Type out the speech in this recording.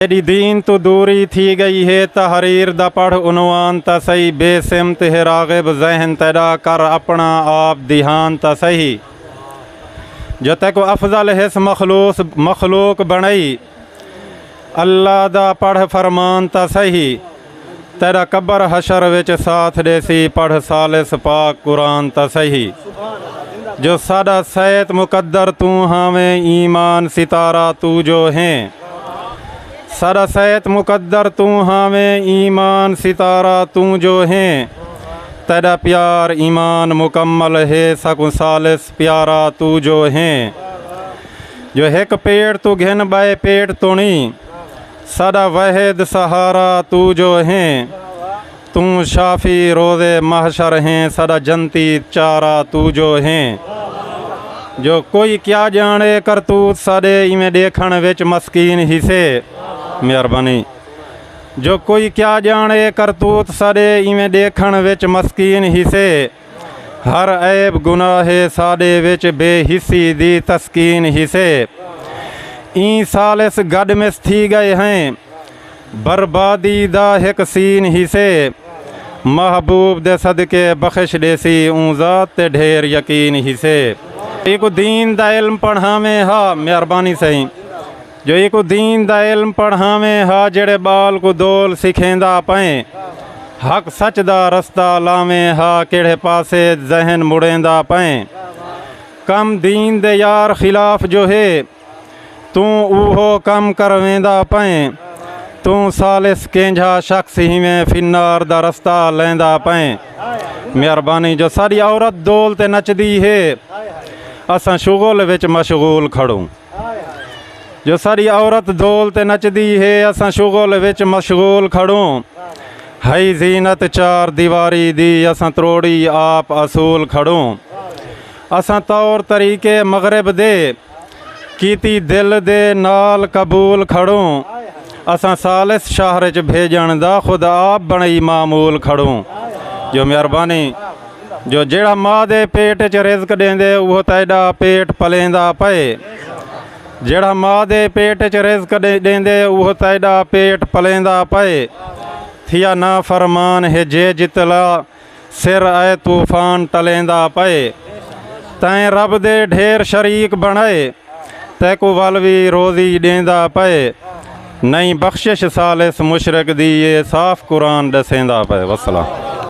تیݙی دین توں دوری تھی ڳئی ہے تحریر دا پڑھ عنوان تاں سہی بے سمت ہے راغب ذہن تیݙا کر اپݨا آپ دھیان تاں سہی جو تیکوں افضل ہس مخلوص مخلوق بݨائی اللہ دا پڑھ فرمان تاں سہی تیڈا قبر حشر وچ ساتھ ڈیسی پڑھ ثالث پاک قرآن تاں سہی جو ساڈا سیت مقدر توں ہاویں ایمان ستارہ توں جو ہیں ساڈا سیت مقدر توں ہاویں ایمان ستارہ توں جو ہیں تیڈا پیار ایمان مکمل ہے ساکوں ثالث پیارا توں جو ہیں جو ہک پیٹ توں گھن بائے پیٹ تونی ساڈا وحید سہارا تو جو ہیں توں شافی روز محشر ہیں ساڈا جنتی چارا تو جو ہیں جو کوئی کیا جانے کرتوت ساڈے ایویں ڈیکھن وچ مسکین ہی سے مہربانی جو کوئی کیا جانے کرتوت ساڈے ایویں ڈیکھن وچ مسکین ہی سے ہر عیب گناہ ساڈے وچ بے حسی دی تسکین ہسے ایں سالس گڈ مس تھی گئے ہیں بربادی دا ہک سین ہسے محبوب دے صدقے بخش ڈیسی اوں ذات تے ڈھیر یقین ہسے۔ ایکوں دین دا علم پڑھاویں ہا مہربانی سئیں۔ جو اے کوں دین دا علم پڑھاویں ہا جیڑھے ٻال کوں دول سکھیندا پئیں حق سچ دا رستہ لاویں ہا کیڑھے پاسے ذہن مڑیندا پئیں کم دین دے یار خلاف جو ہے توں اوہو کم کرویندا پئیں توں ثالث کینجھا شخص ہیویں فنار دا رستہ لیندا پئیں مہربانی جو ساڈی عورت دول تے نچدی ہے اساں شغل وچ مشغول کھڑوں۔ جو ساری عورت دول تے نچدی ہے اساں شغل وچ مشغول کھڑوں ہئی زینت چار دیواری دی اساں تروڑی آپ اصول کھڑوں اساں طور طریقے مغرب دے کیتی دل دے نال قبول کھڑوں اساں سالس شہر چ بھیجن دا خود آپ بنئی معمول کھڑوں جو مہربانی جو جیڑھا ماء دے پیٹ اچ رزق ݙیندے اوہو تیݙا پیٹ پلیندا پئے جیڑھا ماء دے پیٹ اچ رزق ݙیندے اوہو تیݙا پیٹ پلیندا پئے تھیا نافرمان ہے جے جتلا سر اے طوفان ٹلیندا پئے تیں رب دے ڈھیر شریک بݨائے تیکوں ول وی روزی ݙیندا پئے نئیں بخشش ثالث مشرک دی اے صاف قرآن ݙسیندا پئے وسلام